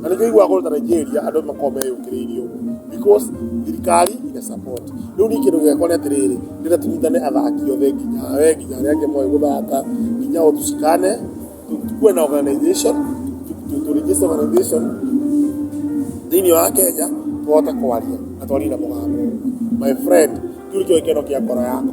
Na nĩkĩo iguaga kũndũ ta Nigeria andũ makoragwo meyũkĩrĩirie ũguo because thirikari ina support. Rĩu niĩ kĩndũ gĩakwa nĩ atĩrĩrĩ, ndĩrenda tũnyitane athaki othe nginya we nginya arĩa angĩ moĩ gũthaka nginya o tũcikane, tũkorwo na organization, tũ register organization thĩinĩ wa Kenya tũhote kwaria na twarie na mũgambo ũmwe. My friend kĩu nĩkĩo gĩkeno kĩa ngoro yakwa.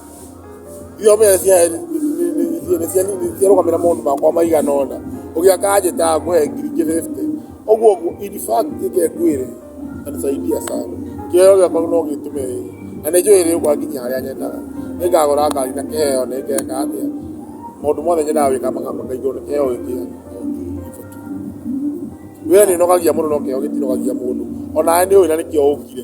Irio mbĩa cia heni nĩciarũgamĩrĩra maũndũ makwa maigana ũna, ũgĩa kanjĩta ngũhe ngiri ingĩ bĩbute, ũguo ũguo in fact reke ngwĩre itanisaidia sana kĩheo gĩakwa no gĩtũme ĩrĩe na nĩ njũĩ ĩrĩũka nginya harĩa nyendaga, nĩngagũra ngari na kĩheo nĩngeka atĩa, maũndũ mothe nyendaga gwĩka makahingwo nĩ kĩheo gĩkĩ gĩakwa no ngiri bĩbute. Wĩra nĩũnogagia mũndũ no kĩheo gĩtinogagia mũndũ, onawe nĩũĩ na nĩkĩo ũkire.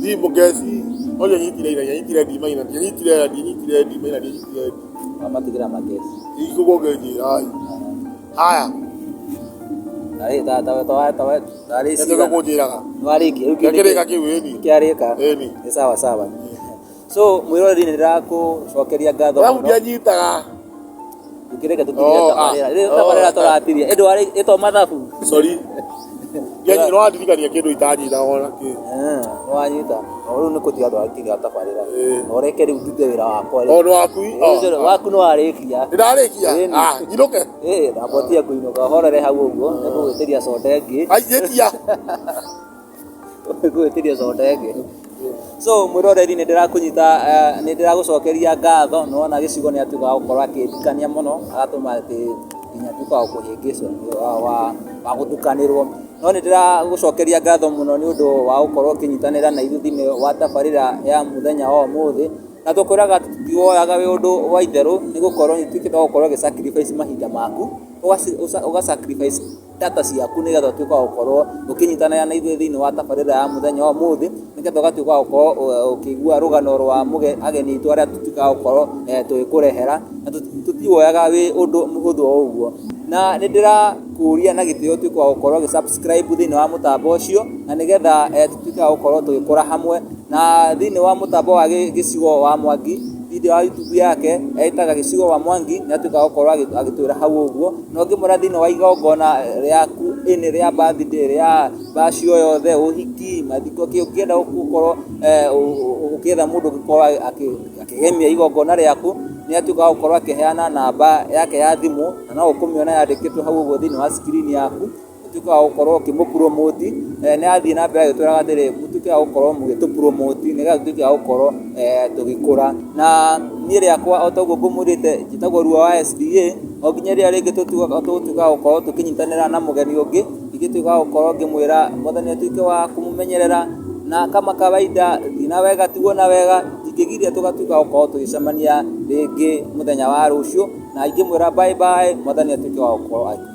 Thiĩ mũkeci. No ndianyitire ira, ndianyitire ndima ira, ndianyitire ira, ndianyitire ndima ira, ndianyitire ndima. Wamatigĩra makeci. Igũkũ ngeci. Ai. Haya. Tarĩ tata we tawa tawa tarĩ Nĩ cigana. kũnjĩraga. Nĩwarĩkia rĩu Gĩkĩrĩka kĩu ĩni. kĩarĩka. Ĩni. Nĩ sawa sawa. so mwĩroreri nĩ ndĩrakũcokeria ngatho Alafu mũno ndianyitaga. tukĩreke tũkinyĩre Oh, tabarĩra ah. rĩu Oh, tabarĩra ah. tũratiria ĩndũ arĩ ĩtwa mathabu Sorry. Ndianyi- no andirikania kĩndũ itanyitaga ona kĩ. wanyita rĩu nĩ kũtiga andũ akiga tabarĩra Eh. na ũreke rĩu ndute wĩra wakwa rĩu. Ona waku. Rĩu oh, ũcio ah. waku nĩ warĩkia Nĩndarĩkia. Eh, nĩ- Ah, nyinũke. ĩĩ ndambotia kũinũka horere hau ũguo nĩ kũgwĩtĩria coda ĩngĩ Ai, njĩtia. gwĩtiria soda ĩngĩ. So mwĩroreri nĩ ndĩrakũnyita, nĩ ndĩragũcokeria ngatho nĩ wona gĩcigo nĩ atuĩka wa gũkorwo akĩndirikania mũno agatũma atĩ nginya nduĩke wa kũhĩngĩcwo, wa gũtukanĩrwo. No nĩ ndĩragũcokeria ngatho mũno nĩ ũndũ wa gũkorwo ũkĩnyitanĩra na ithuĩ thĩinĩ wa tabarĩra ya mũthenya wa ũmũthĩ. Na tũkwĩraga tũtiwoyaga wĩ ũndũ wa itherũ nĩ gũkorwo nĩ ũtuĩkĩte wa gũkorwo ũgĩ sacrifice mahinda maku, ũga sacrifice... data ciaku nĩgetha ũtuĩke wa gũkorwo ũkĩnyitanĩra na ithuĩ thĩinĩ wa tabarĩra ya mũthenya wa ũmũthĩ nĩgetha ũgatuĩka wa gũkorwo ũkĩigua rũgano rwa ageni aitũ arĩa tũtuĩkaga wa gũkorwo tũgĩkũrehera na tũtiwoyaga wĩ ũndũ mũhũthũ o ũguo. Na nĩ ndĩrakũria na gĩtĩo ũtuĩke wa gũkorwo ũgĩ subscribe thĩinĩ wa mũtambo ũcio na nĩgetha tũtuĩke wa gũkorwo tũgĩkũra hamwe na thĩinĩ wa mũtambo wa gĩcigo wa Mwangi video ya YouTube yake etaga gĩcigo wa Mwangi nĩ atuĩkaga wa gũkorwo agĩtwĩra hau ũguo. na ũngĩmwĩra thĩinĩ wa igongona rĩaku, ĩnĩ rĩa birthday, rĩa bash o yothe, ũhiki, mathiko, kĩĩ ũngĩenda gũkorwo ũgĩetha mũndũ ũngĩkorwo akĩgemia igongona rĩaku, nĩ atuĩkaga wa gũkorwo akĩheana namba yake ya thimũ, na no ũkũmĩona yandĩkĩtwo hau ũguo thĩinĩ wa screen yaku. ũtuĩke wa gũkorwo ũkĩmũpuromoti, eh, nĩ athiĩ na mbere agĩtwĩraga atĩrĩ mũtuĩke wa gũkorwo mũgĩtũpuromoti nĩgetha tũtuĩke wa gũkorwo eh, tũgĩkũra na niĩ rĩakwa o toguo ngũmwĩrĩte njĩtagwo ruo wa SDA o nginya rĩrĩa rĩngĩ tũtuĩka tũgũtuĩka wa gũkorwo tũkĩnyitanĩra na mũgeni ũngĩ ingĩtuĩka wa gũkorwo ngĩmwĩra mwathani atuĩke wa kũmũmenyerera na kama kawaida thiĩ na wega tigwo na wega ingĩgiria tũgatuĩka wa gũkorwo tũgĩcemania rĩngĩ mũthenya wa rũciũ na ingĩmwĩra bye bye mwathani atuĩke wa gũkorwo akĩmũmenyerera